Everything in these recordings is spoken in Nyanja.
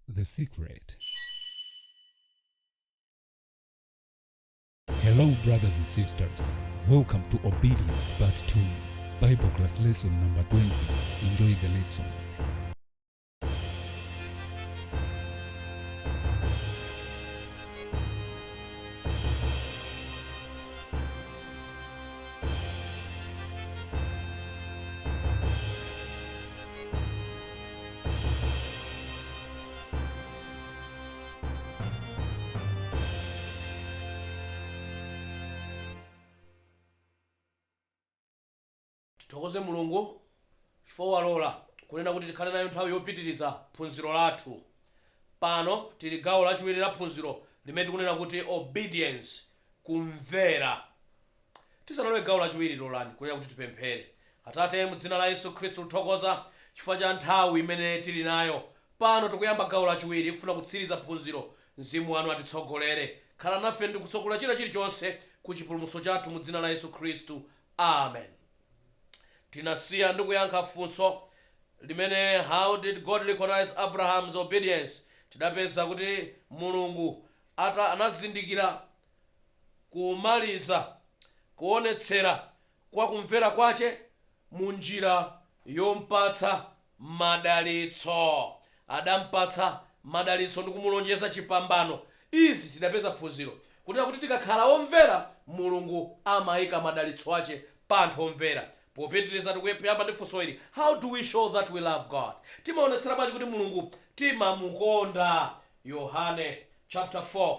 The secret. Hello, brothers and sisters. Welcome to Obedience Part 2, Bible class lesson number 20. Enjoy the lesson. tithokoze mulungu chifukwa walola kunena kuti tikhale nayo nthawi yopitiriza phunziro lathu pano tili gawo lachiwiri la phunziro limene tikunena kuti obedience kumvera Tisanalowe gawo lachiwiri, lolani kunena kuti tipemphere. Atate, mu dzina la Yesu Khristu tikuthokoza chifukwa cha nthawi imene tili nayo pano. Tikuyamba gawo lachiwiri kufuna kutsiriza phunziro. Mzimu wanu atitsogolere. Khala nafe ndi kutsogolera china chilichonse ku chipulumutso chathu mu dzina la Yesu Khristu. Amen. Tinasiya ndi kuyankha funso limene How did God recognize Abraham's obedience? Tidapeza kuti Mulungu anazindikira kumaliza kuonetsera kwa kumvera kwace mu njira yompatsa madalitso. Adampatsa madalitso ndi kumulonjeza cipambano. Izi tidapeza phunziro, kunena kuti tikakhala omvera Mulungu amaika madalitso ace pa anthu omvera. Popitiriza tikuyamba ndi funso ili, How do we show that we love God? Timaonetsera bwanji kuti Mulungu timamukonda? Yohane chaputala 4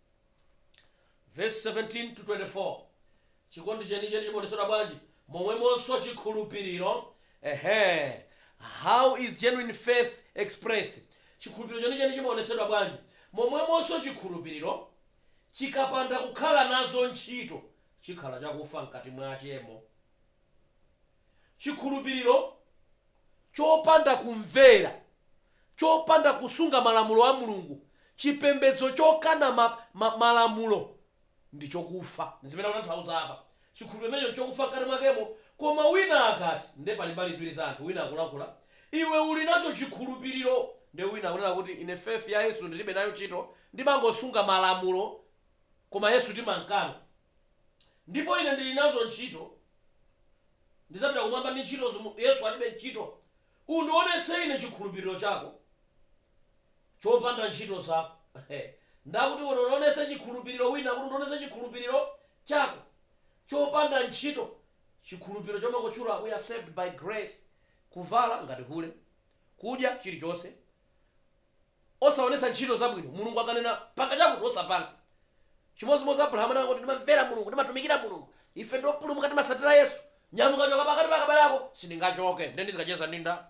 Vesi 17 to 24. Chikondi chenicheni chimaonetsedwa bwanji? Momwemonso chikhulupiriro, ehe, how is genuine faith expressed? Chikhulupiriro chenicheni chimaonetsedwa bwanji? Momwemonso chikhulupiriro, chikapanda kukhala nazo ntchito, chikhala chakufa mkati mwachemo. Chikhulupiriro chopanda kumvera, chopanda kusunga malamulo a Mulungu, chipembedzo chokana ma, ma, malamulo, ndi chokufa. Ndi zimene akutanthauza apa. Chikhulupiriro chimenecho nchokufa mkati mwakemo. Koma wina akati. Ndiye pali mbali ziwiri za anthu, wina akulankhula, Iwe uli nacho chikhulupiriro! Ndiye wina akunena kuti, Ine faith ya Yesu ndiribe nayo ntchito, ndimangosunga malamulo, koma Yesu timamkana. Ndipo ine ndiri nazo ntchito, ndidzapita Kumwamba ndi ntchito zomwe. Yesu alibe ntchito. Undiwonetse ine chikhulupiriro chako chopanda ntchito zako. Ndakuti undionetse chikhulupiriro wina akuti, Undiwonetse chikhulupiriro chako chopanda ntchito, chikhulupiriro chomangotchula we are saved by grace, kuvala ngati hule, kudya chirichonse, osaonetsa ntchito zabwino, Mulungu akanena panga chakuti osapanga. Chimodzimodzi Abrahamu anangoti ndimamvera Mulungu, ndimatumikira Mulungu, ife ndi opulumuka timatsatira Yesu, nyamuka choka pakati pa abale ako, sindingachoke, nde ndizikacheza ndi nda?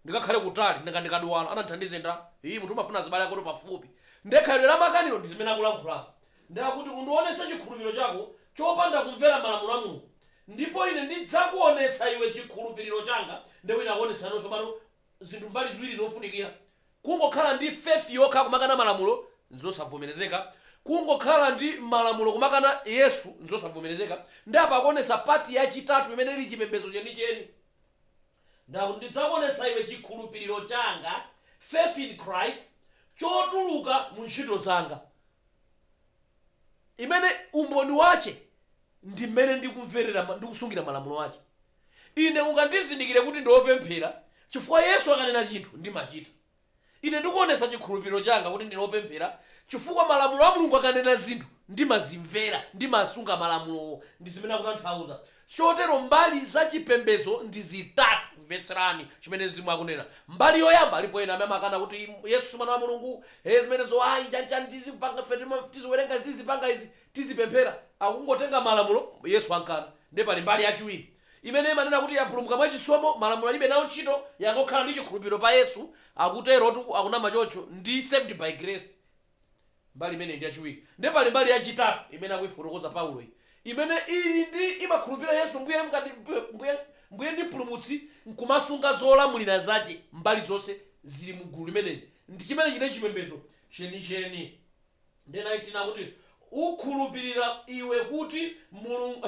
ndikakhale kutali nanga ndikadwala anandithandize nda? ii munthu umafuna azibale akotu pafupi, nde khalidwe la makanilo ndi zimene akulankhulapo nde akuti undionetse chikhulupiliro chako chopanda kumvera malamulo a Mulungu ndipo ine ndidzakuonetsa iwe chikhulupiliro changa nde wina akuonetsano tsopano zinthu mbali ziwiri zofunikira. Kungokhala ndi faith yokha kumakana malamulo nzosavomerezeka. Kungokhala ndi malamulo kumakana Yesu nzosavomerezeka. Nde apa akuonetsa part yachitatu imene ili chipembedzo chenicheni. Nde akuti ndidzakuonetsa iwe chikhulupiriro changa, faith in Christ, chotuluka mu ntchito zanga. Imene umboni wache ndi mmene ndikumverera ndi kusungira malamulo ache. Ine ungandizindikire kuti ndine opemphera chifukwa Yesu akanena chinthu ndimachita. Ine ndikuonetsa chikhulupiliro changa kuti ndine opemphera chifukwa malamulo a Mulungu akanena zinthu ndimazimvera, ndimasunga malamulowo. Ndi zimene akutanthauza. Chotero mbali za chipembedzo ndi zitatu. Mvetserani chimene Mzimu akunena. Mbali yoyamba, alipo ena amene amakana kuti Yesu si mwana wa Mulungu, ee zimenezo ayi, chani chani tizipanga ife tiziwerenga izi tizipanga izi. tizipemphera akungotenga malamulo Yesu ankana nde pali mbali yachiwiri imene imanena kuti yapulumuka mwa chisomo malamulo alibe nawo ntchito yangokhala ndi chikhulupiliro pa Yesu akuterotu akunama choncho ndi saved by grace mbali imeneyi ndi yachiwiri nde pali mbali yachitatu imene akuifotokoza Paulo iyi imene ili ndi imakhulupilira Yesu mbuye ndi mpulumutsi nkumasunga zolamulira zache mbali zonse zili mu gulu limeneli ndi chimenechi ndi chipembezo chenicheni Nde 19 akuti, Ukhulupirira iwe kuti Mulungu,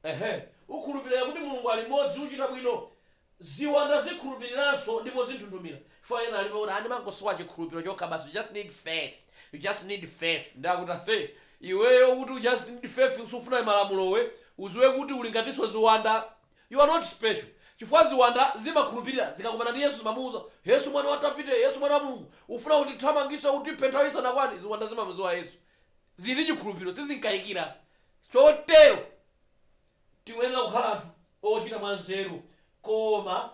ehe, ukhulupirira iwe kuti Mulungu ali mmodzi, uchita bwino. Ziwanda zikhulupiriranso ndipo zinthunthumira. Chifukwa ena alipo kuti, ah, ndimangosowa chikhulupiro chokha basi, you just need faith, you just need faith. Nde akuti, ase, iweyo ukuti you just need faith, sufuna malamulo iwe, udziwe kuti uli ngatinso ziwanda. You are not special chifukwa ziwanda zimakhulupilira zikakumana ndi Yesu zimamuuza Yesu mwana wa Davide Yesu mwana wa Mulungu ufuna utithamangise utiphe nthawi isanakwane ziwanda zimamuziwa Yesu zili ndi chikhulupiliro sizimkaikira chotero tiyenera kukhala anthu ochita mwa nzeru koma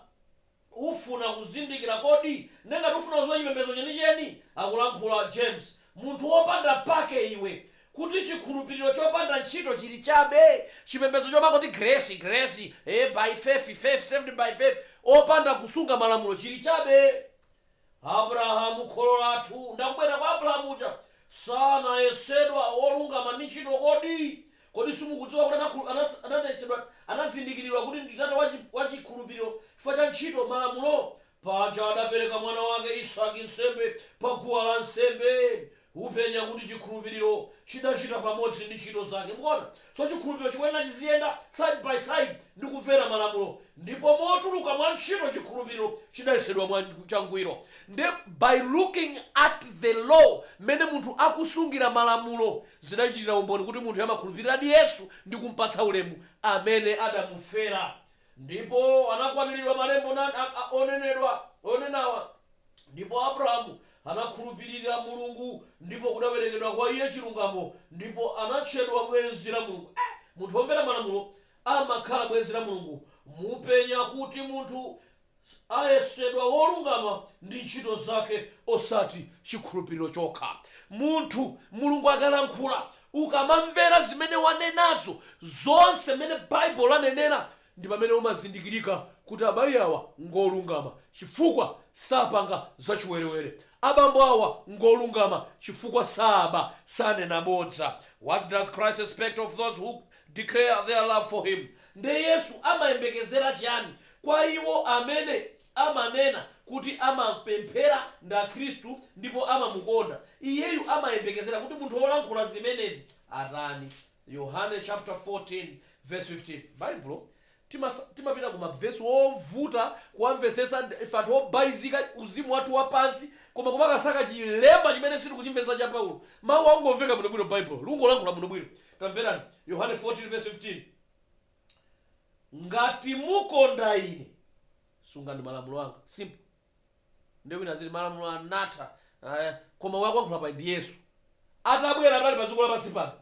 Ufuna kuzindikira kodi? Nde ngati ufuna kuziwa chipembezo chenicheni, akulankhula James, munthu wopanda pake iwe, kuti chikhulupiriro chopanda ntchito chili chabe, chipembezo chomangoti grace, grace, ee by faith, faith, saved by faith, opanda kusunga malamulo chili chabe. Abrahamu kholo lathu, ndakubwera kwa Abrahamu uja, sanayesedwa wolungama ndi ntchito kodi? Kodi simukudziwa kuti anakhulu, ana, anayesedwa, anazindikiridwa kuti ndi tate wa, wa chikhulupiriro chifukwa cha ntchito, malamulo? Paja adapereka mwana wake Isake nsembe pa guwa la nsembe. Upenya kuti chikhulupiriro chidachita pamodzi ndi ntchito zake. Mukuona? So, chikhulupiriro chikuyenera chiziyenda side by side ndi kumvera malamulo, ndipo motuluka mwa ntchito chikhulupiriro chidayesedwa mwa, changwiro. Ndiye by looking at the law, mmene munthu akusungira malamulo, zidachitira umboni kuti munthuyo amakhulupiriradi Yesu ndi kumpatsa ulemu amene adamufera, ndipo anakwaniridwa malembo onenedwa, onenawa. Ndipo Abrahamu anakhulupirira Mulungu, ndipo kudawerekedwa kwa iye chilungamo, ndipo anatchedwa bwenzi la Mulungu. Eh, munthu womvera malamulo amakhala bwenzi la Mulungu. Mupenya kuti munthu ayesedwa wolungama ndi ntchito zake, osati chikhulupiriro chokha. Munthu, Mulungu akalankhula, ukamamvera zimene wanenazo, zonse mmene Baibulo lanenera, ndi pamene umazindikirika kuti amayi awa ngolungama chifukwa sapanga zachiwerewere, abambo awa ngolungama chifukwa saaba, sanena bodza. What does Christ expect of those who declare their love for Him? Nde Yesu amayembekezera chiyani kwa iwo amene amanena kuti amapemphera ndi Akhristu ndipo amamukonda Iyeyu? Amayembekezera kuti munthu wolankhula zimenezi atani? Yohane chapter 14 verse 15 baibulo timapita ku mavesi ovuta kuwamvesesa ife anthu obaizika uzimu wathu wapansi koma kumakasaka chilemba chimene sitikuchimvesa cha paulo mawu akungomveka bwinobwino baibulo likungolankhula bwinobwino tamverani yohane 14 verse 15 ngati mukonda ine sungani malamulo anga simple Ndiye wina aziti malamulo anatha, aah, koma akuyankhula paja ndi Yesu. Atabwera anali padziko lapansi pano,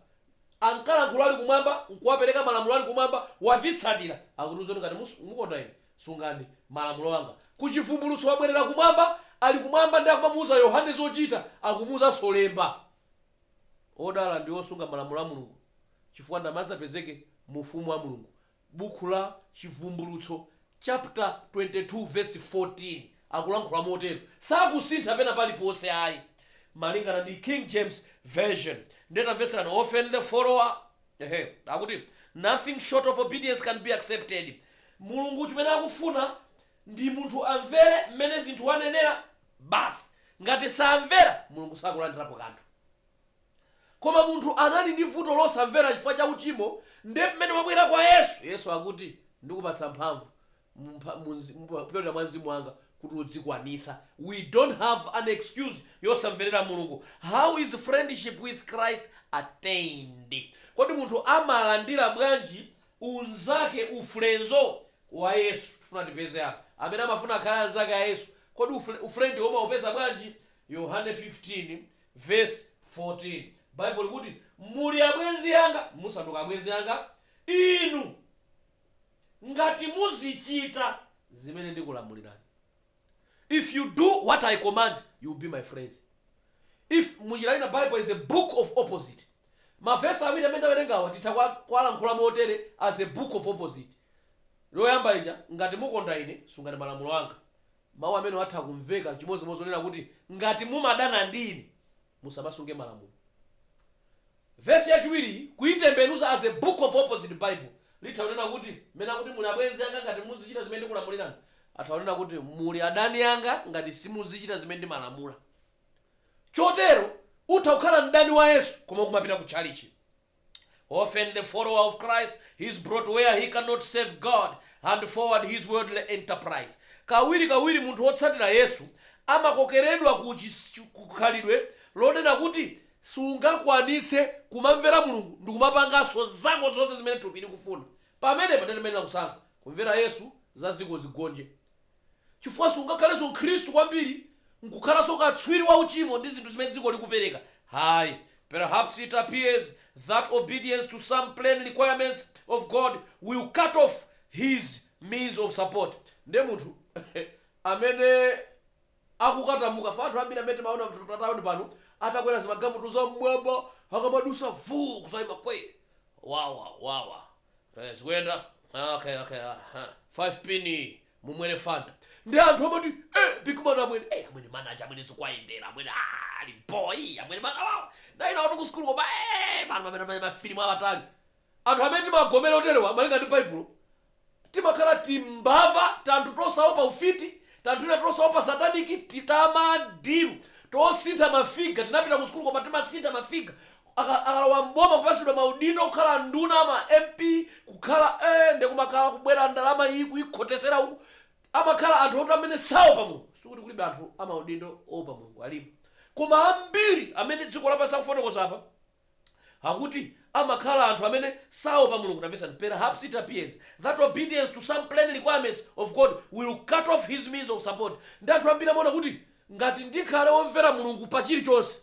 ankalankhula ali kumwamba nkuwapereka malamulo ali kumwamba, watitsatira, akutiuza kuti ngati mus, mukonda ine, sungani malamulo anga. Ku Chivumbulutso wabwerera kumwamba, ali kumwamba ndiye akumamuuza Yohane zochita, akumuuzanso lemba. Odala ndi osunga malamulo a Mulungu, chifukwa ndi amene adzapezeke mu ufumu wa Mulungu. Bukhu la Chivumbulutso chapter 22 verse 14 akulankhula motero, sakusintha pena paliponse ayi, malingana ndi King James Version. Ndiye tamvetserani, Often the follower, ehe, akuti, Nothing short of obedience can be accepted. Mulungu chimene akufuna ndi munthu amvere mmene zinthu wanenera, basi. Ngati samvera, Mulungu sakulandirapo kanthu. Koma munthu anali ndi vuto losamvera chifukwa cha uchimo nde mmene wabwera kwa Yesu, Yesu akuti ndikupatsa mphamvu kupyolera mwa mzimu wanga kuti udzikwanisa. We don't have an excuse yosamverera Mulungu. How is friendship with Christ attained? Kodi munthu amalandira bwanji unzake, ufrenzo, wa Yesu? Tifuna tipeze apa amene amafuna akhale anzake a Yesu. Kodi ufrendi wo umawupeza bwanji? Yohane 15 Vesi 14, Baibulo likuti, Muli abwenzi anga, musanduka abwenzi anga inu, ngati muzichita zimene ndikulamulirani. If you do what I command, you will be my friends. If, munjira ina, Bible is a book of opposite. Mavesi awiri amene ndawerengawa titha kuwa, kuwalankhula motere as a book of opposite. Loyamba ija, ngati mukonda ine, sungani malamulo anga. Mawu amenewo atha kumveka chimodzimodzi onena kuti, Ngati mumadana ndi ine, musamasunge malamulo. Vesi yachiwiriyi kuitembenuza as a book of opposite Bible litha kunena kuti, Mmene akuti muli abwenzi anga ngati muzichita zimene ndikulamulirani, atha kunena kuti, muli adani anga ngati simuzichita zimene ndimalamula. Chotero, utha kukhala mdani wa Yesu koma ukumapita ku tchalitchi. Often the follower of Christ is brought where he cannot serve God and forward his worldly enterprise. Kawirikawiri munthu wotsatira Yesu amakokeredwa ku chis- kukhalidwe lonena kuti sungakwanitse kumamvera Mulungu ndi kumapanganso zako zonse zimene thupi likufuna. Pamenepa ndiye timayenera kusankha, kumvera Yesu za dziko zigonje chifukwa sungakhalenso Mkhristu kwambiri n'kukhalanso katswiri wa uchimo ndi zinthu zimene dziko likupereka. Ayi. Perhaps it appears that obedience to some plain requirements of God will cut off his means of support. Ndiye munthu amene akukatamuka, fa, anthu ambiri amene timaona patauni pano atakwera zimagamutu zam'mwamba akamadutsa vuu kudzaima kwee wawa wawa. Eh, zikuyenda Ah, okay okay ah, ah. 5 pin mumwere fanta ndi anthu amati eh, big man amwene eh, amwene manaja amwene zikwayendera amwene ah, ali boy amwene mana wawo ndaina watu kusukulu koma eh, anthu amene amene mafilimu awatali anthu amene timagomera oterewa malinga ndi baibulo timakhala timbava tanthu tosaopa ufiti tanthu tina tosaopa sataniki tamadilu tosintha mafiga tinapita kusukulu koma timasintha mafiga akalowa m'boma kupasidwa maudindo kukhala nduna ma mp kukhala ee nde kumakhala kubwera ndalama iyi kuyikhotesera uku amakhala anthu oti amene saopa mulungu sikuti kulibe anthu amaudindo oopa mulungu alipo koma ambiri amene dziko lapansi akufotokoza apa akuti amakhala anthu amene saopa mulungu tamvesani perhaps it appears that obedience to some plain requirements of god will cut off his means of support ndi anthu ambiri amaona kuti ngati ndikhale womvera mulungu pa chilichonse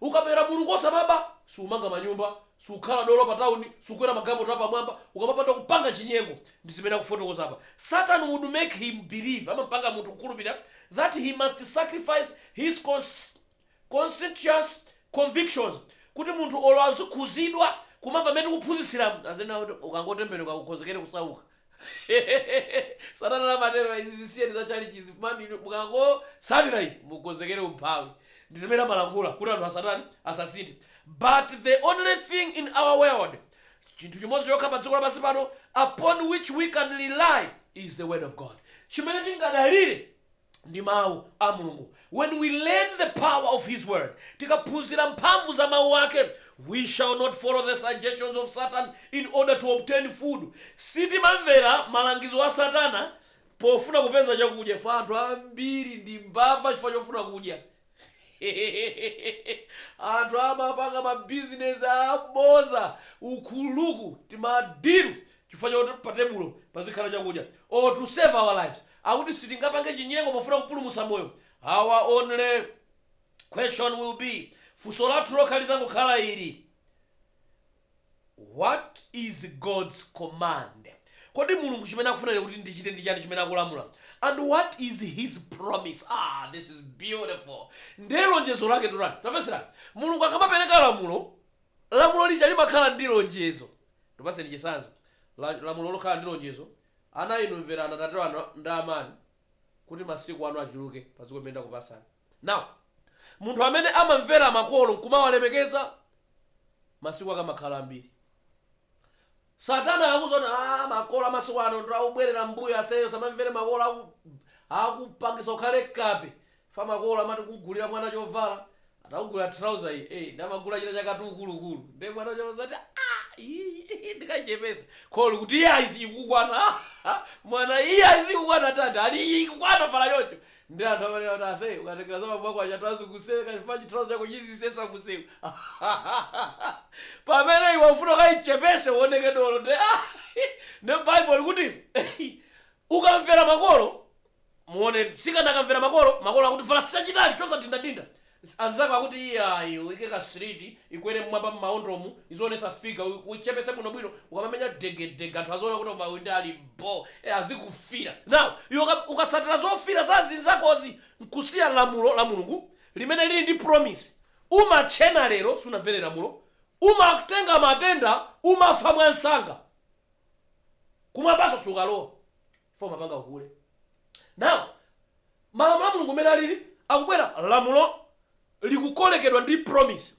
Ukamvera Mulungu osamaba, sumanga manyumba, sukhala dolo pa town, sukwera magalimoto apamwamba, ukamapanda kupanga chinyengo. Ndizimene akufotokoza apa. Satan would make him believe, amapanga munthu kukhulupirira, that he must sacrifice his conscientious convictions, kuti munthu olo azikhuzidwa kumamva mmene tikuphunzitsiramu, azinena kuti ukangotembenuka ukonzekere kusauka. satana amatero izi zisiyeni za chalichi izi funani inu mukangotsatira iyi mukonzekere umphawi ndi zimene amalankhula kuti anthu asatani asasinthe but the only thing in our world chinthu chimodzi chokha pa dziko lapansi pano upon which we can rely is the word of god chimene tingadalire ndi mau a Mulungu When we learn the power of his word Tikaphunzira mphamvu za mau ake We shall not follow the suggestions of Satan in order to obtain food Sitimamvera malangizo a Satana pofuna kupeza chakudya fa anthu ambiri ndi mbava chifukwa chofuna kudya anthu amapanga ma business aboza ukuluku tima deal chifukwa choti patebulo pazikhala chakudya or to save our lives akuti sitingapange chinyengo pofuna kupulumusa moyo our only question will be funso lathu lokha lizangokhala ili What is God's command? Kodi Mulungu chimene akufuna ine kuti ndichite ndi chani chimene akulamula? And what is his promise? Ah, this is beautiful. Ndiye lonjezo lake ndotani? Tamvetserani. Mulungu akamapereka lamulo, lamulo lija limakhala ndi lonjezo. Ndikupaseni chitsanzo. La- Lamulo lokhala ndi lonjezo. Ana inu mverani atate anu ndi amanu kuti masiku anu achuluke padziko limene ndakupasani. Now, munthu amene amamvera makolo nkumawalemekeza, masiku ake amakhala ambiri. Satana akakuuza kuti ah, makolo amasiku ano ndi obwerera mbuyo aseyo usamamvere makolo aku, akupangisa ukhale kape. Fa makolo amati kugulira mwana chovala, atakugula trouser iyi, eh, nde amagula china chakati ukulukulu. Ndiye mwana uja amazati ah, iyi ndikachepesa. Kholo kuti iyayi ikukwana. Mwana iyayi sikukwana tata, ali ikukwana vala choncho. Nde anthu amanena kuti ase ukatengera za bambo ako aja anthu azikuseka chifukwa chi trouser chako chizisesa mumsewu pamene iwe ufuna ukaichepese uoneke dolo nde nde bible likuti ukamvera makolo muone mtsikana akamvera makolo makolo akuti vala chachitali chosadindadinda Anzako akuti iyayi uike ka slit ikwere mmwamba mmawondomu izionesa figure uichepese bwinobwino ukamamenya dege dege anthu aziona kuti koma uyu nde ali bho ee azikufila now iwe ukasatira zofila za azinzakozi nkusiya lamulo la mulungu limene lili ndi promise umatchena lero sunamvere lamulo umatenga matenda umafa mwansanga kumwambaso sukalowa 4 umapanga uhule now malamulo a mulungu mmene alili akubwera lamulo likukolekedwa ndi promise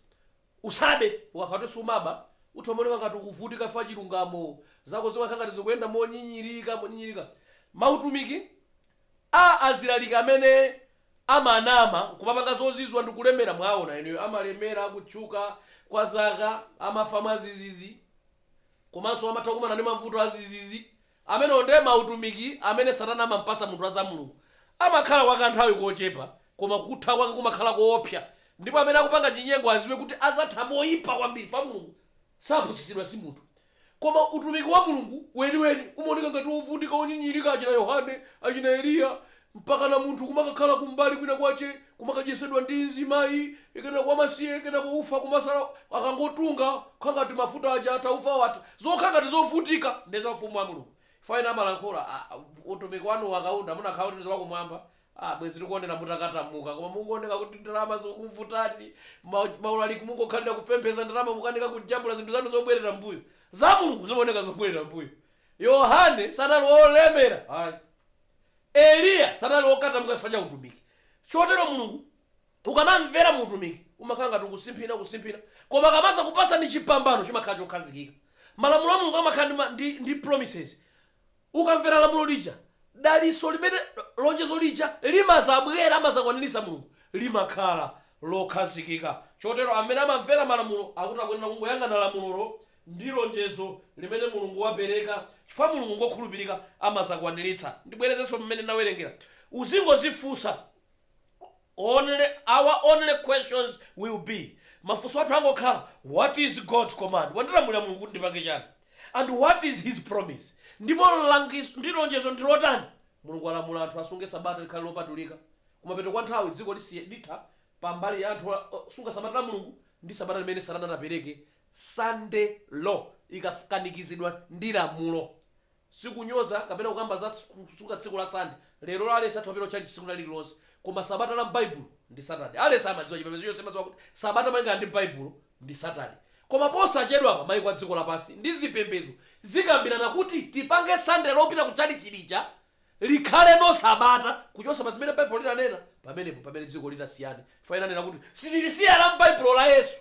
usabe ukakhala kuti sumaba utha umaoneka ngati ukuvutika chifukwa chilungamo zinthu zako zimakhala ngati zikuyenda monyinyirika monyinyirika mautumiki a alaliki amene amanama nkumapanga zozizwa ndi kulemera mwaona eneyo amalemera kutchuka kwa zaka amafa mwazizizi komanso amatha kumana ndi mavuto azizizi Amenewo nde ma utumiki amene satana amampasa munthu azamulungu amakhala kwa ka nthawi kochepa koma kutha kwake kumakhala koopsa ndipo amene akupanga chinyengo aziwe kuti azatha moyipa kwambiri fwa mulungu sapusisidwa simunthu koma utumiki wa mulungu weniweni umaoneka ngati ovutika onyinyirika achina yohane achina eliya mpakana munthu kumakakhala kumbali kwina kwache kumakadyesedwa ndi mzimayi kenako wamasiye kenako ufa kumasala akangotunga kukhala ngati mafuta aja atha ufa watha zokhala ngati zovutika nde za ufumu wa Mulungu chifukwa ena amalankhula aah utumiki wanuwu akaunda munakhala kuti ndiwa kumwamba aah bwezi tikuonera mutakatamuka koma mungooneka kuti ndalama zikukuvutani ma ma ulaliki mungokhalira kupemphesa ndalama mukanika kujambula zinthu zanu zobwerera mbuyo za Mulungu zimaoneka zobwerera mbuyo Yohane sanali olemera ayi Eliya sanali wokatamuka chifukwa cha utumiki. Chotero Mulungu ukamamvera mu utumiki umakhala ngati ukusimphina kusimphina koma akamadzakupatsani chipambano chimakhala chokhazikika. Malamulo a Mulungu amakhala ndi, ma, ndi, ndi promises. Ukamvera lamulo lija, dalitso limene lonjezo lija limadzabwera amadzakwaniritsa Mulungu limakhala lokhazikika. Chotero amene amamvera malamulo akuti akuyenera kungoyang'ana lamulolo Ndi lonjezo limene Mulungu wapereka chifukwa Mulungu ngokhulupirika amazakwaniritsa. Ndibwerezenso mmene ndinawerengera. Uzingozifunsa our only questions will be mafunso athu angokhala what is God's command? Wandilamulira Mulungu kuti ndipange chani? And what is his promise? Ndipo ndi lonjezo ndi lotani? Mulungu walamula anthu asunge sabata likhale lopatulika. Kumapeto kwa nthawi dziko litha pa mbali ya anthu osunga sabata la Mulungu ndi sabata limene Satana atapereke Sunday Law ikakanikizidwa ndi lamulo. Sikunyoza kapena kukamba za kusunga tsiku la Sunday. Lerolo aliyense atha kupita kutchalitchi tsiku lina lililonse. Koma Sabata la m'Baibulo ndi Saturday. Aliyense amadziwa, chipembedzo chonse chimadziwa kuti Sabata malingana ndi Baibulo ndi Saturday. Koma posachedwapa maiko a dziko lapansi ndi zipembedzo zikambirana kuti tipange Sunday lopita kutchalitchi lija likhaleno Sabata kuchotsa pa zimene Baibulo linanena. Pamenepo mpamene dziko litasiyane chifukwa ena anena kuti, Sitilisiya la m'Baibulo la Yesu.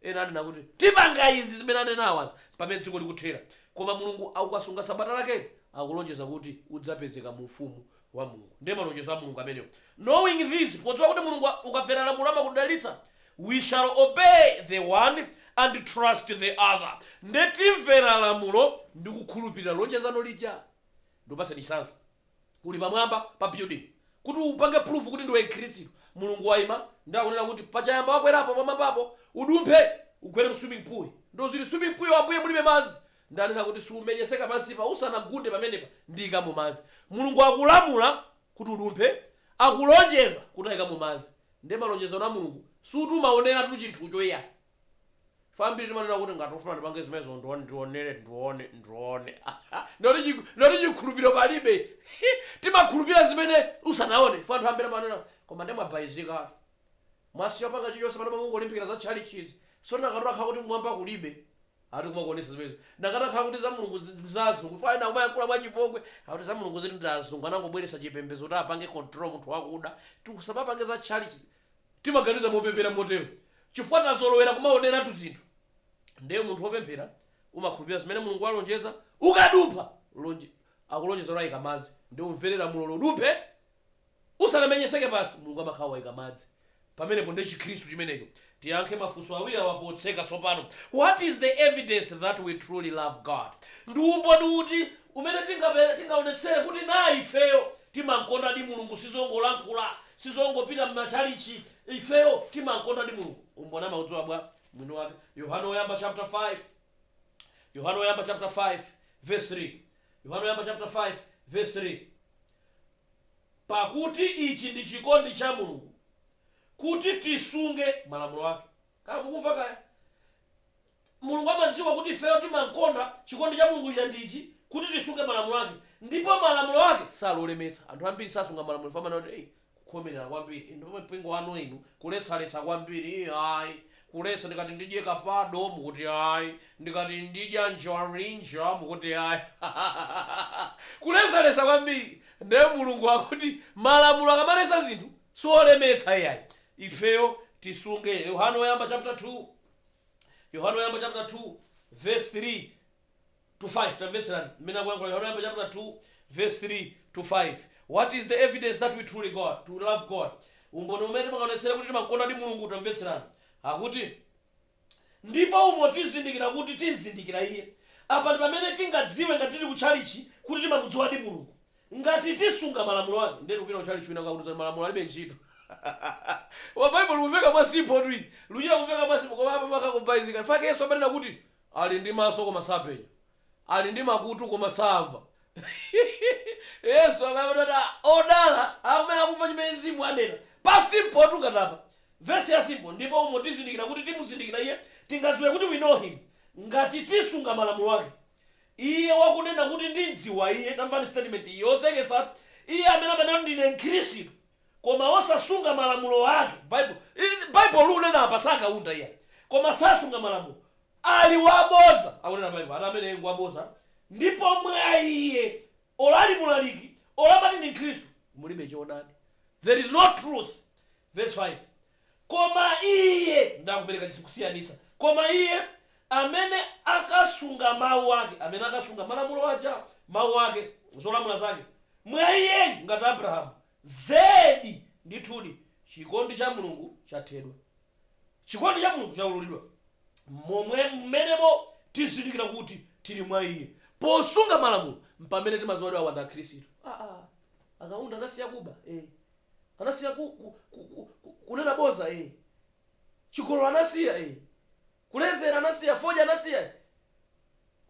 Ena anena kuti, Tipanga izi zimene anenawazi pamene dziko likuthera. Koma Mulungu akukasunga Sabata lakeli, akulonjeza kuti udzapezeka mu Ufumu wa Mulungu. Ndiye malonjezo a Mulungu amenewo. Knowing this, podziwa kuti Mulungu ukamvera lamulo amakudalitsa, we shall obey the one and trust the other. Ndiye timvera lamulo ndikukhulupirira lonjezano lija. Ndikupatseni chitsanzo. uli pamwamba pa building kuti upange prove kuti ndiwe mkhirisitu mulungu waima ndi akunena kuti pachayamba wakwerapo pamwambapo udumphe ugwere mu swimming pool ndo zili swimming pool Ambuye mulibe madzi ndanena kuti siumenyeseka pansipa usanagunde pamenepa ndiikamo madzi mulungu akulamula kuti udumphe akulonjeza kuti aikamo madzi nde malonjezano a mulungu suti umaoneratu chinthucho iyayi Ife ambiri timanena kuti ngati ufuna ndipange zimenezo ndione ndionere ndione ndione ndoti chiku- ndoti chikhulupiriro palibe timakhulupirira zimene usanaone ife anthu ambiri amanena koma ndimwabayizika mwasiya kupanga chilichonse pano mungolimbikira za tchalichizi so nakati akhala kuti kumwamba kulibe ati kumakuonesa zimenezo nakati akhala kuti za mulungu zi- ndi za azungu ife ena timayankhula mwachipongwe akuti za mulungu zili ndi azungu anangobweresa chipembedzo kuti apange control munthu wakuda tisamapange za tchalichi Timaganiza mopepera motero chifukwa tazolowera kumaoneratu zinthu. Ndiye munthu wopemphera umakhulupirira zimene Mulungu walonjeza. Ukadumpha lonje akulonjeza kuti aika madzi, ndiye umvere lamulolo udumphe usanamenyeseke pansi, Mulungu amakhala waika madzi pamenepo. Ndiye Chikhristu chimenecho. Tiyankhe mafunso awiri awa potseka tsopano, What is the evidence that we truly love God? Ndi umboni uti umene tingapeze, tingaonetsere kuti naa ifeyo timamkondadi Mulungu? Sizongolankhula, Sizongopita mmatchalitchi. Ifeyo timankondadi Mulungu. Umboni amaudziwa bwa? Mwini wake Yohane Woyamba chapter 5 Yohane Woyamba chapter 5 verse 3 Yohane Woyamba chapter 5 verse 3 Pakuti ichi ndi chikondi cha Mulungu, kuti tisunge malamulo ake. Kaya mukumva kaya? Mulungu amadziwa kuti ifeyo timamkonda, chikondi cha Mulungu chija ndi ichi, kuti tisunge malamulo ake. Ndipo malamulo ake sali olemetsa. Anthu ambiri sasunga malamulo chifukwa amanena kuti, Ei, kukhomerera kwambiri, inu ndipo mpingo wanu inu, kuletsaletsa kwambiri, ii ai, kuletsa, ndikati ndidye kapado, mukuti ai, ndikati ndidya njarinja, mukuti ai, ha ha ha ha ha ha! Kuletsaletsa kwambiri! Ndiye Mulungu akuti malamulo akamaletsa zinthu, si olemetsa iyayi, ifeyo tisunge. Yohane Woyamba chapter 2. Yohane Woyamba chapter 2 verse 3 to 5 tamvetserani mmene akuyankhula yohane woyamba chapter 2 verse 3 to 5 what is the evidence that we truly god to love god umboni umene timaonetsera kuti timamkondadi mulungu tamvetserani akuti ndipo umo tizindikira kuti timzindikira iye apa ndi pamene tingadziwe ngati tili ku tchalichi kuti timamudziwadi mulungu Ngati tisunga malamulo ake, ndiye kupita ku tchalitchi kwina akakuuza zoti malamulo alibe ntchito. Koma Baibulo likumveka mwa simpho tu ili. Luchita kumveka mwa simpho, koma apa amakakubatiza. Chifake Yesu amanena kuti, Ali ndi maso koma sapenya. Ali ndi makutu koma samva. Yesu amayamba ndi kuti, a, odala awo amene akumva chimene Mzimu anena. Pa simpho tu ngati apa. Vesi ya simpho, ndipo umo tizindikira kuti timuzindikira Iye, tingadziwe kuti we know Him, ngati tisunga malamulo ake. Iye wakunena kuti, Ndimdziwa Iye, tamvani statement iyi, yoseketsa, Iye amene amanena kuti, Ndine Mkhristu, koma osasunga malamulo Ake, Bible, ili, Bible likunena apa, si a Kaunda iyayi, koma sasunga malamulo, ali wabodza, akunena Bible, ati ameneyo ngwabodza, ndipo mwa iye, olo ali mlaliki, olo amati ndi Mkhristu, mulibe choonadi, there is no truth, verse 5, Koma iye, ndiye akupereka kusiyanitsa, koma iye amene akasunga mawu ake, amene akasunga malamulo aja, mawu ake, zolamula zake, mwa iyeyu ngati Abrahamu, zedi, ndithudi, chikondi cha Mulungu chathedwa. Chikondi cha Mulungu chaululidwa. Momwe, mmenemo tizindikira kuti tili mwa Iye. Posunga malamulo, mpamene timadziwa kuti awa ndi Akhristu. A-a. Akaunda anasiya kuba. Ee. Anasiya ku, ku, ku, ku, ku, kunena bodza e. Chigololo anasiya e. Kulezera anasiya, fodya anasiya,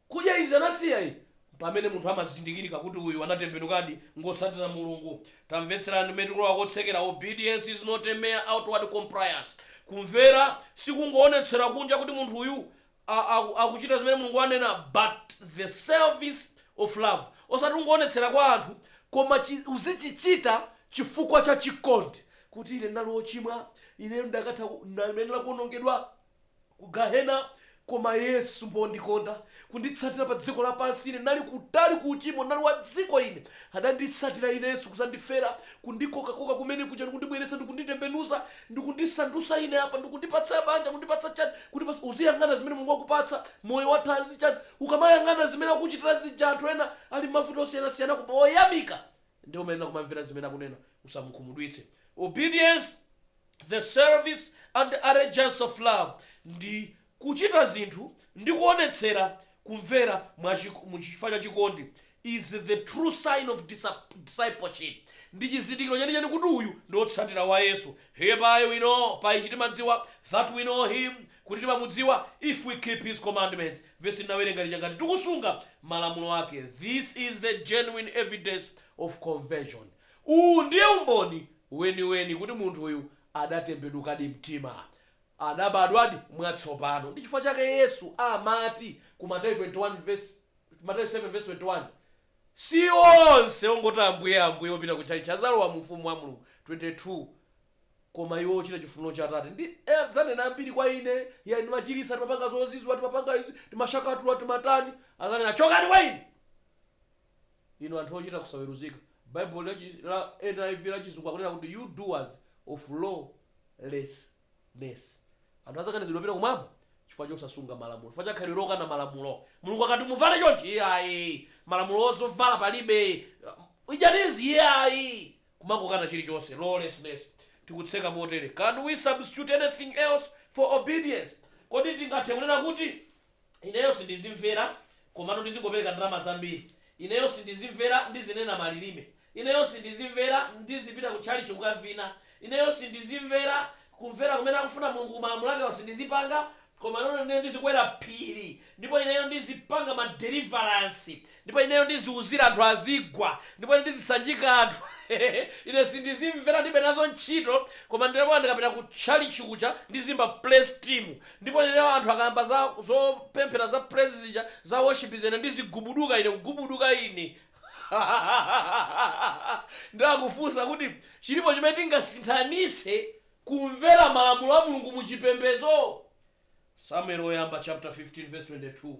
kudya izi anasiya e. Mpamene munthu amazindikirika kuti uyu anatembenukadi, ngotsatira Mulungu. Tamvetserani mmene tikulowa kotsekera, Obedience is not a mere outward compliance. Kumvera sikungoonetsera kunja kuti munthu uyu a, a, akuchita zimene mulungu anena but the service of love osati ungoonetsera kwa anthu koma chi, uzichichita chifukwa cha chikondi kuti ine ndinali ochimwa ine ndakatha ku- ndimayenera kuonongedwa ku gahena koma yesu pondikonda kunditsatira pa dziko lapansi ine ndinali kutali ku uchimo ndinali wa dziko ine adanditsatira ine yesu kuzandifera kundikokakoka kumene kuja ndikundibweretsa ndikunditembenuza ndikundisandutsa ine apa, ndikundipatsa banja, kundipatsa chani, kundipatsa. Uziyang'ana zimene Mulungu wakupatsa, moyo wathanzi, chani. Ukamayang'ana zimene akuchitira zija anthu ena ali mmavuto osiyanasiyana koma oyamika, ndiye umayenera kumamvera zimene akunena, usamukhumudwitse. Obedience, the service and allegiance of love ndi Kuchita zinthu ndi kuonetsera kumvera muchifukwa cha chikondi is the true sign of discipleship, ndi chizindikiro chenicheni kuti uyu ndi otsatira wa Yesu, Hereby we know, pa ichi timadziwa, that we know Him, kuti timamudziwa, if we keep His commandments, vesi tinawerenga ija, ngati tikusunga malamulo ake, this is the genuine evidence of conversion, uwu ndiye umboni weniweni kuti munthu uyu adatembenukadi mtima. Anabadwadi mwatsopano. Ndi chifukwa chake Yesu amati ku Mateyu 21 vesi, Mateyu 7:21, Si onse ongoti Ambuye, Ambuye opita ku tchalitchi adzalowa mu ufumu wa Mulungu, 22 koma iwo ochita chifuniro cha Atate. Ndi, e, adzanena ambiri kwa Ine, Iyayi, timachiritsa, timapanga zozizwa, timapanga izi, timashakatula, timatani. Adzanena, Chokani kwa Ine! Inu anthu ochita kusaweruzika. Baibulo la chi, la, N.I.V. la Chizungu akunena kuti, You doers of lawlessness. Anthu adzakanizidwa kupita Kumwamba chifukwa chosasunga malamulo, chifukwa cha khalidwe lokana malamulo. Mulungu akati, Muvale chonchi! Iyayi! Malamulo a zovala palibe! Idyani izi! Iyayi! Kumangokana chirichonse. Lawlessness. Tikutseka motere. Can we substitute anything else for obedience? Kodi tingathe kunena kuti. Ineyo sindizimvera, komano ndizingopereka ndalama zambiri. Ineyo sindizimvera, ndizinena malilime. Ineyo sindizimvera, ndizipita ku tchalichi kukavina. Ineyo sindizimvera, kumvera kumene akufuna Mulungu ku malamulo ake awa sindizipanga. Komano ineyo ndizikwera phiri, ndipo ineyo ndizipanga ma deliverance. Ndipo ineyo ndiziwuzira anthu azigwa, ndipo ine ndizisanjika anthu, ine sindizimvera, ndilibe nazo ntchito, koma ndinenso ndikapita ku tchalitchi kuja, ndiziyimba praise team, ndipo ineyo anthu akayamba za, zopemphera za praise zija, za worship zija ine ndizigubuduka ine, kugubuduka ine. Ndiye akufunsa kuti, chilipo chimene tingasinthanitse kumvera malamulo a Mulungu mu chipembedzo? Samueli woyamba chaputala 15 vesi 22.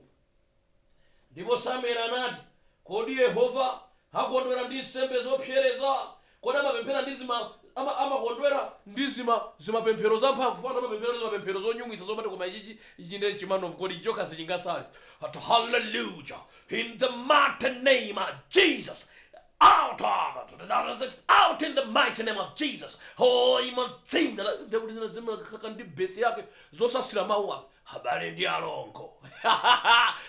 Ndipo Samueli anati, Kodi Yehova akondwera ndi nsembe zopsereza? Kodi amapemphera ndi zima, ama, amakondwera ndi zima, zimapemphero zamphamvu? Ena amapemphera ndi zimapemphero zonyumwitsa zomati koma ichichi, ichi ndiye nchi man of God, ichi chokha sichingasale. Ati hallelujah, in the mighty name of Jesus. Out of to the outer six, out in the mighty name of Jesus. Oh, m'madzina ndi kuti zina zimakakaka ndi besi yake zosasira mawu ake abale ndi alongo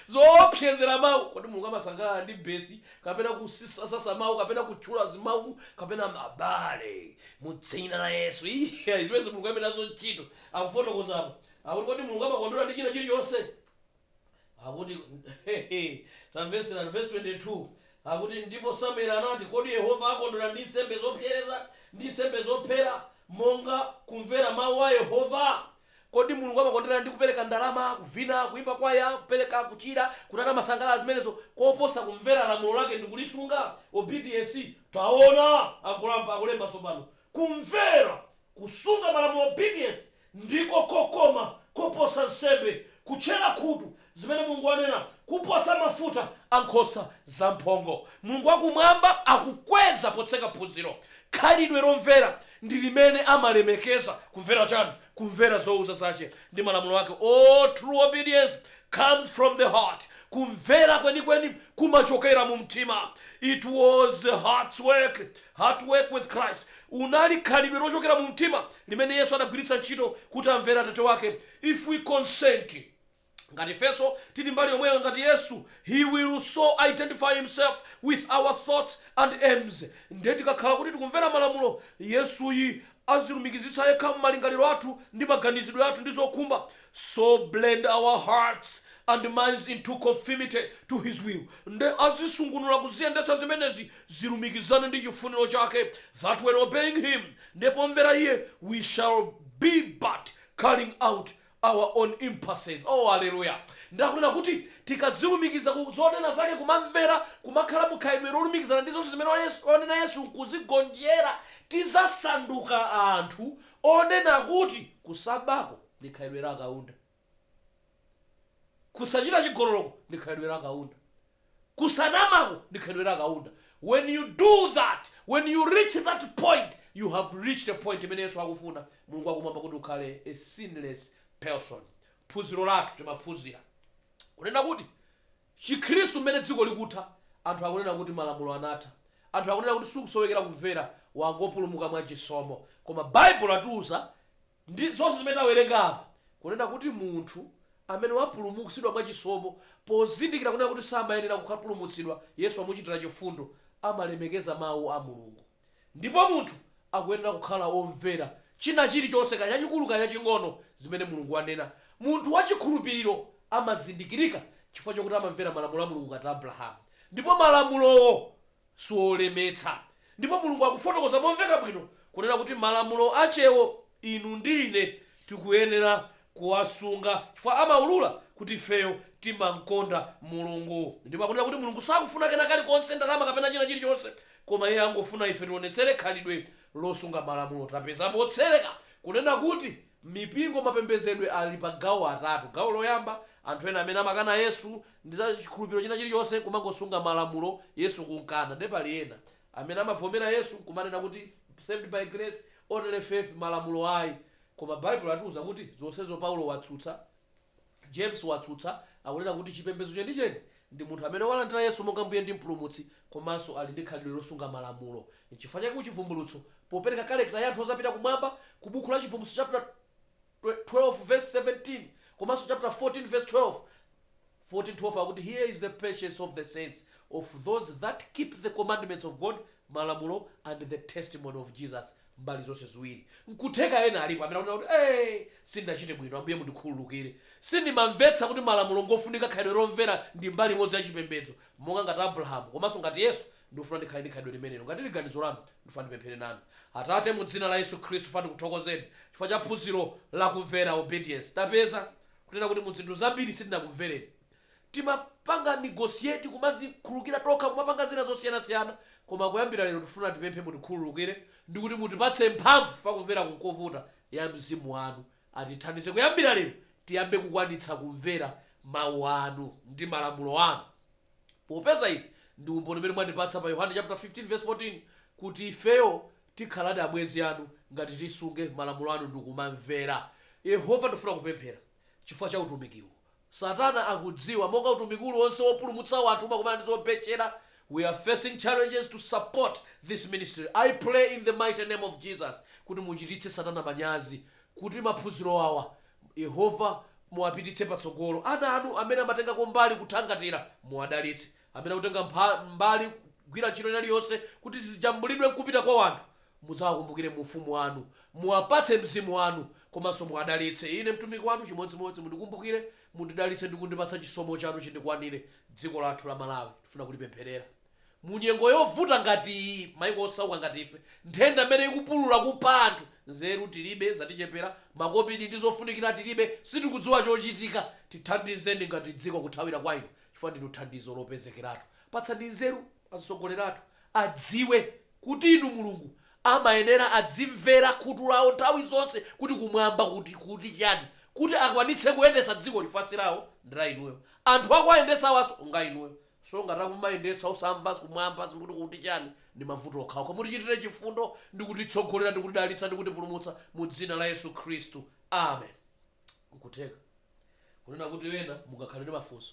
zoopsezera mawu kodi mulungu amasangalala ndi besi kapena kusasasa mawu kapena kutchula zimawu kapena abale mu dzina la yesu Iya, zimene mulungu alibe nazo ntchito akufotokozapo akuti kodi mulungu amakondwera ndi china chilichonse Akuti, tamvetserani, vesi 22, akuti, Ndipo Samuele anati, Kodi Yehova akondwera ndi nsembe zopsereza, ndi nsembe zophera, monga kumvera mau a Yehova? Kodi Mulungu amakondwera ndi kupereka ndalama, kuvina, kuimba kwaya, kupereka, kuchira, kutani, amasangalala zimenezo, koposa kumvera lamulo lake ndi kulisunga? Obedience, taona, akulemba tsopano, kumvera Kusunga malamulo obedience ndiko kokoma koposa nsembe, kutchera khutu zimene Mulungu anena kuposa mafuta a nkhosa zamphongo. Mulungu wa Kumwamba akukweza potseka phunziro. Khalidwe lomvera ndi limene amalemekeza. Kumvera chani? Kumvera zouza zache ndi malamulo ake. All true obedience comes from the heart. Kumvera kwenikweni kumachokera mu mtima. It was heart's work, heart work with Christ. Unali khalidwe lochokera mu mtima limene Yesu anagwiritsa ntchito kuti amvere Atate wake, If we consent Ngati ifenso tili mbali yomweyo ngati Yesu, He will so identify Himself with our thoughts and aims. Nde tikakhala kuti tikumvera malamulo Yesuyi azilumikizitsa yekha mmalingaliro athu ndi maganizidwe athu ndi zokhumba. So blend our hearts and minds into conformity to his will nde azisungunula kuziyendetsa zimenezi zilumikizane ndi chifuniro chake that when obeying him nde pomvera iye we shall be but carrying out our own impulses oh haleluya ndakunena kuti tikazilumikiza ku zonena zake kumamvera kumakhala mukhalidwe lolumikizana ndi zonse zimene onena Yesu nkuzigonjera tizasanduka anthu onena kuti kusabako ndi khalidwe la Kaunda. Kusachita chigololoko ndi khalidwe la Kaunda. Kusanamako ndi khalidwe la Kaunda. When you do that, when you reach that point, you have reached a point imene Yesu akufuna, Mulungu wakumwamba kuti ukhale a sinless person. Phunziro lathu timaphunzira kunena kuti Chikhristu mmene dziko likutha, anthu akunena kuti malamulo anatha. Anthu akunena kuti sukusowekera kumvera, wangopulumuka mwa chisomo. Koma Baibulo latiuza Ndi zonse zimene tawerenga apa, kunena kuti munthu amene wapulumutsidwa mwa chisomo, pozindikira kunena kuti samayenera kukapulumutsidwa, Yesu wamuchitira chifundo, amalemekeza Mau a Mulungu. Ndipo munthu akuyenera kukhala womvera china chiri chonse, kaya chachikulu kaya chaching'ono, zimene Mulungu anena. Munthu wa chikhulupiriro amazindikirika chifukwa chokuti amamvera malamulo a Mulungu ngati Abrahamu. Ndipo malamulowo siwolemetsa. Ndipo Mulungu akufotokoza momveka bwino kunena kuti malamulo achewo inu ndi ine tikuyenera kuwasunga chifukwa amaulula kuti ifeyo timamkonda Mulungu. Ndipo akunena kuti Mulungu sakufuna kena kalikonse, ndalama kapena china chilichonse, koma Iye angofuna ife tionetsere khalidwe losunga malamulo. Tapeza motsereka kunena kuti Mipingo mapembezedwe ali pa gawo atatu. Gawo loyamba, anthu ena amene amakana Yesu ndi za chikhulupiro china chilichonse kumangosunga malamulo Yesu kumkana. Nde pali ena. amene amavomera Yesu nkumanena kuti saved by grace, only faith malamulo ayi. Koma Bible latiuza kuti zonsezo Paulo watsutsa. James watsutsa, akunena kuti chipembedzo chenicheni ndi munthu amene walandira Yesu monga Mbuye ndi Mpulumutsi komanso ali ndi khalidwe losunga malamulo. N'chifukwa chake ku Chivumbulutso, popereka character ya anthu odzapita kumwamba, ku buku la Chivumbulutso chapter 12 verse 17 komanso chapter 14 verse 12, 14:12 akuti, Here is the patience of the saints, of those that keep the commandments of God, malamulo, and the testimony of Jesus. mbali zonse ziwiri. Nkutheka ena alipo amene akunena kuti, Ee, sindinachite bwino, Ambuye mundikhululukire. Sindimamvetsa kuti malamulo ngofunika khalidwe lomvera ndi mbali imodzi ya chipembedzo. Monga ngati Abrahamu komanso ngati Yesu, ndikufuna ndikhale ndi khalidwe limenelo. Ngati ili ganizo lanu, ndifuna ndipemphere nanu. Atate, mu dzina la Yesu Khristu, funa ndikuthokozeni chifukwa cha phunziro la kumvera, obedience. Tapeza, kunena kuti mu zinthu zambiri sitinakumvereni. Timapanga negotiate kumazikhululukira tokha kumapanga zina zosiyanasiyana koma kuyambira lero tifuna tipemphe mutikhululukire ndikuti mutipatse mphamvu chifukwa kumveraku nkovuta ya mzimu wanu atithandize kuyambira lero tiyambe kukwanitsa kumvera mau anu ndi malamulo anu popeza izi ndi umboni umene mwatipatsa pa Yohane chapter 15 verse 14 kuti ifeyo tikhaladi abwenzi anu ngati tisunge malamulo anu ndikumamvera. Yehova ndifuna kupemphera chifukwa cha utumikiwu. Satana akudziwa, monga utumiki uliwonse wopulumutsa wanthu umakumana ndi zobetchera, we are facing challenges to support this ministry. I pray in the mighty name of Jesus kuti muchititse satana manyazi kuti maphunziro awa Yehova muwapititse patsogolo. Ana anu amene amatengako mbali kuthangatira muwadalitse. Amene akutenga mbali kugwira ntchito ina iliyonse kuti zijambulidwe nkupita kwa wanthu Mudzawakumbukire mu ufumu wanu, muwapatse mzimu wanu, komanso muwadalitse. Ine mtumiki wanu chimodzimodzi, mundikumbukire, mundidalitse ndi kundipatsa chisomo chanu chindikwanire. Dziko lathu la Malawi tifuna kulipempherera. Mu nyengo yovuta ngati iyi, maiko osauka ngati ife, nthenda mmene ikupulula kupha anthu, nzeru tilibe, zatichepera, makobidi ndi zofunikira tilibe, sitikudziwa chochitika. Tithandizeni ngati dziko kuthawira kwa inu chifukwa ndinu thandizo lopezekeratu. Patsani nzeru azitsogoleri athu, adziwe kuti Inu Mulungu amayenera adzimvera khutu lawo nthawi zonse kuti kumwamba kuti, kuti chiyani? kuti akwanitse kuyendetsa dzikoli chifukwa si lawo ndi la Inuyo. Anthu akuwayendetsa awanso nga Inuyo. So ngati akumayendetsa osamva kumwamba kuti, kuti chiyani? ndi mavuto okhaokha. Mutichitire chifundo ndi kutitsogolera ndi kutidalitsa ndi kutipulumutsa mu dzina la Yesu Khristu. Amen. Nkutheka kunena kuti ena mungakhale ndi mafunso.